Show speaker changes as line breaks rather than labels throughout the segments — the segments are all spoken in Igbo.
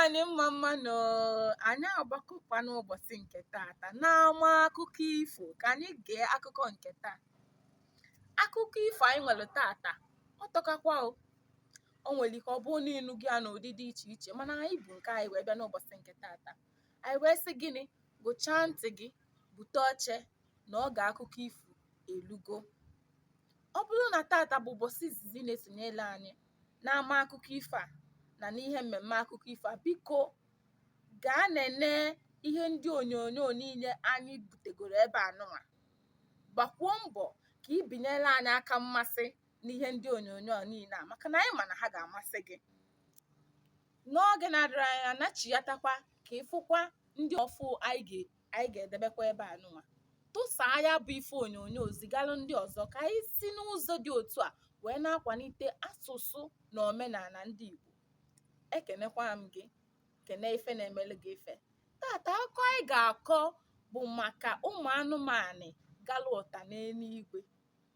anyị mma mma nụ anyị agbakọkwa n'ụbọsị nke taata n'ama akụkọ ifo ka anyị gee akụkọ nke taa akụkọ ifo anyị nwere taata ọ tọkakwa o o nwere ike ọ bụrụ na ị nụgo ya n'ụdị dị iche iche mana anyị bu nke anyị wee bịa n'ụbọsị nke tata anyị wee sị gịnị gụchaa ntị gị bute oche na oge akụkọ ifo elugo ọ bụrụ na tata bụ ụbọsị izizi ị na-esonyele anyị n'ama akụkọ ifo a na n'ihe mmemme akụkọ ifo a biko gaa nene ihe ndị onyonyo niile anyị butegoro ebe a nụnwa gbakwuo mbọ ka ị binyere anyị aka mmasị n'ihe ndị onyonyo niile a maka na anyị ma na ha ga-amasị gị n'oge na-adịrọ anya nachighatakwa ka ị fụkwa ndị ọfụ anyị ga-edebekwa ebe a nụnwa tụsaa ya bụ ife onyonyo zigalụ ndị ọzọ ka anyị si n'ụzọ dị otu a wee na-akwanite asụsụ na omenana ndị Igbo ekenekwa m gị kene ife na-emele gị ife tata akụkọ anyị ga-akọ bụ maka ụmụ anụmanụ galụ ụta n'enuigwe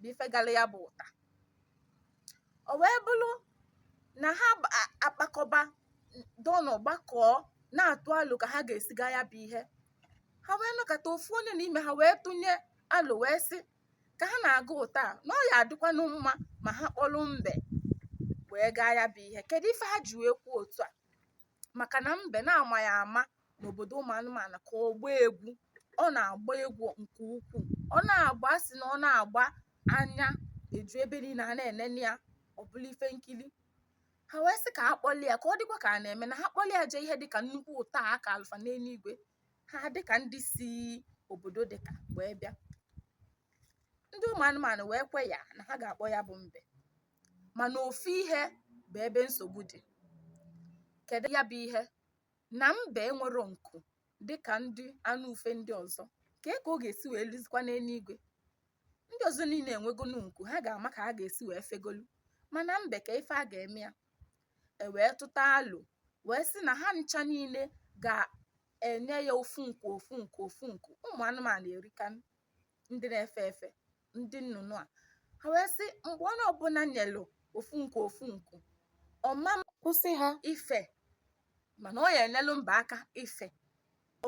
bụ ife galụ ya bụ ụta o wee bụrụ na ha akpakọba dọnụ gbakọọ na-atụ alo ka ha ga-esi ga ya bụ ihe ha wee nọkata ofu onye n'ime ha wee tụnye alo wee sị ka ha na-aga ụta na ọ ya-adịkwanụ mma ma ha kpọlụ mbe wee gaa ya bụ ihe kedu ife ha ji wee kwuo otu a maka na mbe na a ma ya ama n'obodo ụmụ anụmanụ ka ọgba egwu ọ na-agba egwu nke ukwuu ọ na-agba a sị na ọ na-agba anya eju ebe niile a na-enene ya ọ bụlụ ife nkiri ha wee sị ka a kpọlụ ya ka ọ dịkwa ka a na-eme na ha kpọlụ ya jee ihe dịka nnukwu ụta a a kalụ fa n'enuigwe ha dịka ndị si obodo dịka wee bịa ndị ụmụ anụmanụ wee kwe ya na ha ga-akpọ ya bụ mbe mana ofu ihe bụ ebe nsogbu dị kedu ya bụ ihe na mbe enwero nku dịka ndị anụ ufe ndị ọzọ kee ka ọ ga-esi wee luzikwa n'enuigwe ndị ọzọ niile enwegonu nku ha ga-ama ka ha ga-esi wee fegolu mana mbe kee ife a ga-eme ya e wee tụta alo wee sị na ha ncha niile ga-enye ya ofu nku ofu nku ofu nku ụmụ anụmanụ erika ndị na-efe efe ndị nnụnụ a ha wee sị mgbe onye ọbụla nyelụ ofu nku ofu nku ọ ma akwụsị ha ife mana ọ ya-enyelụ mbe aka ife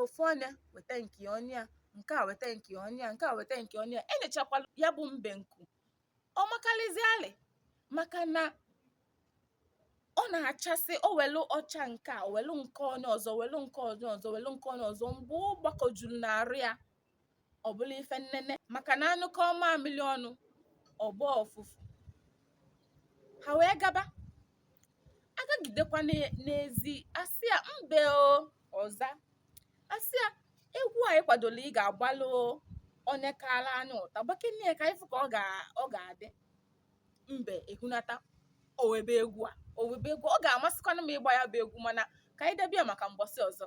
ofu onye weta nke onye a nke a weta nke onye a nke a weta nke onye a enyechakwala ya bụ mbe nku ọ makarịzialị maka na ọ na-achasị o welu ọcha nke a welu nke onye ọzọ welu nke onye ọzọ welu nke onye ọzọ mgbe ọ gbakọjuru n'arụ ya ọ bụlụ ife nnene maka na a nyụkọọ mamịrị ọnụ ọ gbọọ ụfụfụ ha wee gaba agagidekwa n'e- n'ezi a sị ya mbe o ọ za a sị ya egwu anyị kwadolụ ị ga-agbalụ onye kalụ anyị ụta gbakene ya ka anyị fụ ka ọ ga- ọ ga-adị mbe ehunata o webe egwu a o webe egwu ọ ga-amasịkwanụ m ịgba ya bụ egwu mana ka anyị debe ya maka mbọsị ọzọ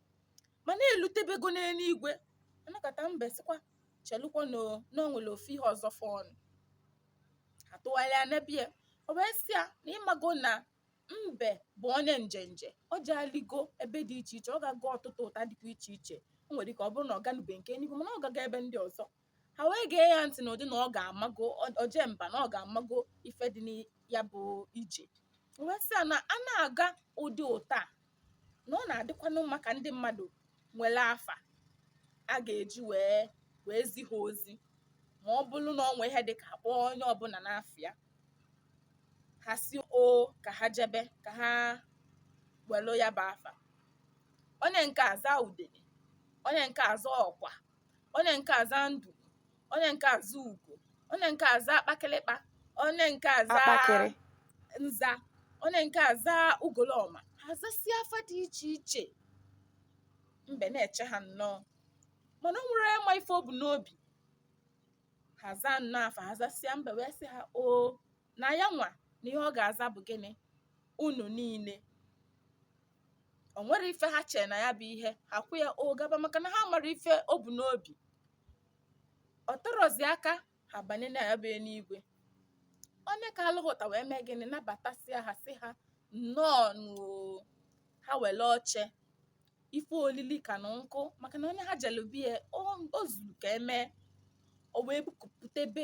mana elutebego n'eluigwe anakọta mbe sịkwa chelụkwa na o- na o nwere ofu ihe ọzọ fọnụ ha tụgharịa nebe ya o wee sị ya na ị mago na mbe bụ onye njenje o jeghalịgo ebe dị iche iche ọ gago ọtụtụ ụta dịkwa iche iche o nwere ike ọ bụrụ na ọ ganube nke eluigwe mana ọ gago ebe ndị ọzọ ha wee gee ya ntị n'ụdị na ọ ga-amago oje mba na ọ ga-amago ife dị na ya bụ ije wee sị ya na a na-aga ụdị ụta a na ọ na-adịkwanụ mma ka ndị mmadụ nwere afa a ga-eji wee wee zi ha ozi ma ọ bụrụ na o nwee ihe dị ka a kpọọ onye ọbụla n'afa ya ha sị o ka ha jebe ka ha welu ya bụ afa onye nke aza udene onye nke aza ọkwa onye nke aza ndụ onye nke aza ugo onye nke aza akpakịlịkpa onye nke aza nza onye nke aza ugolọma ha zasịa afa dị iche iche mbe na-eche ha nnọọ mana o nwere ịma ife o bu n'obi ha zaa nnọọ afa ha zasịa mbe wee sị ha o na ya nwa na ihe ọ ga-aza bụ gịnị unu niile o nwerọ ife ha chere na ya bụ ihe ha kwụ ya ọ gaba maka na ha marọ ife o bu n'obi o terozi aka ha banye na ya bụ eluigwe onye kalụ ha ụta wee mee gịnị nabatasịa ha sị ha nnọọ nụ o ha were oche ife olili ka na nkụ maka na onye ha jelu be ya o zuru ka e mee o wee bupụtebe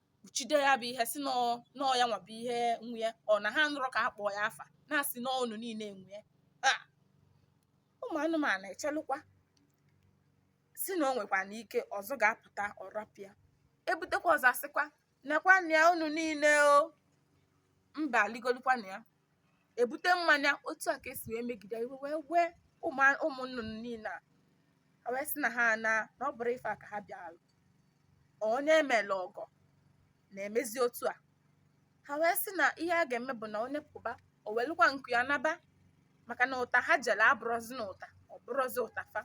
kpuchide ya bụ ihe sị na ọ ya nwa bụ ihe nwe ya ọ na ha anụrọ ka a kpọọ ya afa na a sị na unu niile nwe ya ụmụ anụmanụ echelụkwa sị na o nwekwanụ ike ọzọ ga-apụta ọ rapịa ebutekwa ọzọ a sịkwa nekwanụ ya unu niile o mbe eligolukwanụ ya ebute mmanya otu a ka e si wee megide iwe wee wee ụmụ nnụnụ niile a wee sị na ha ana na ọ bụrọ ife a ka ha bịara onye emela ọgọ na-emezi otu a ha wee sị na ihe a ga-eme bụ na onye pụba o welukwa nku ya naba maka na ụta ha jere abụrọzinụ ụta ọ bụrọzi ụta fa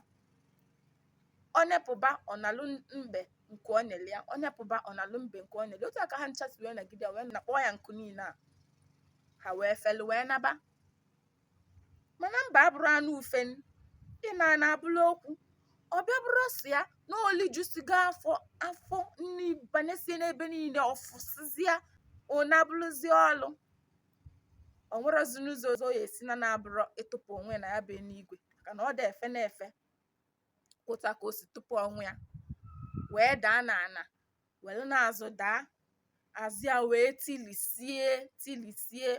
onye pụba ọ nalụ mbe nke o nyere ya onye pụba ọ nalụ mbe nke o nyere otu a ka ha ncha si wee nagide wee nakpọọ ya nku niile a ha wee felu wee naba mana mbe abụrọ anụ ufe ịna ana abụrụ okwu ọ bịa bụrụzịa na o lijusigo afọ afọ nri banyesie n'ebe niile ọ fụsịzịa ụna abụrụzi ọlụ o nwerọzinụ ụzọ ọzọ ọ ya-esi naa na-abụrọ ịtụpụ onwe ya na ya bụ eluigwe maka na ọ da efenụ efe otu a ka o si tụpụ onwe ya wee daa na ana werenụ azụ daa azụ ya wee tilisie tilisie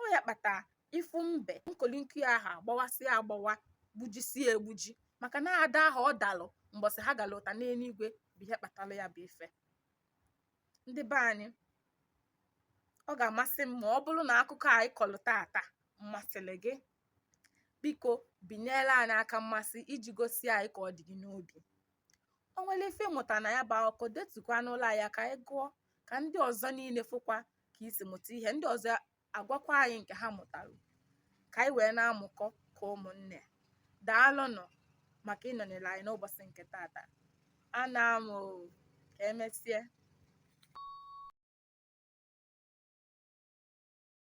ọ ya kpata ị fụ mbe nkolinkụ ya ahụ agbawasịa agbawa gbujisie egbuji maka na ada ahụ ọ dalụ mbọsị ha gara ụta n'eluigwe bụ ihe kpatara ya bụ ife ndị be anyị ọ ga-amasị m ma ọ bụrụ na akụkọ anyị kọlụ tata masịrị gị biko binyere anyị aka mmasị iji gosi anyị ka ọ dị gị n'obi o nwere ife ị mụta na ya bụ akụkọ detukwanụlụ anyị ka anyị gụọ ka ndị ọzọ niile fụkwa ka i si mụta ihe ndị ọzọ agwakwa anyị nke ha mụtara ka anyị wee na-amụkọ ka ụmụnne daalụnụ maka ịnọnyere anyị n'ụbọchị nke tata anaa m ka emesịa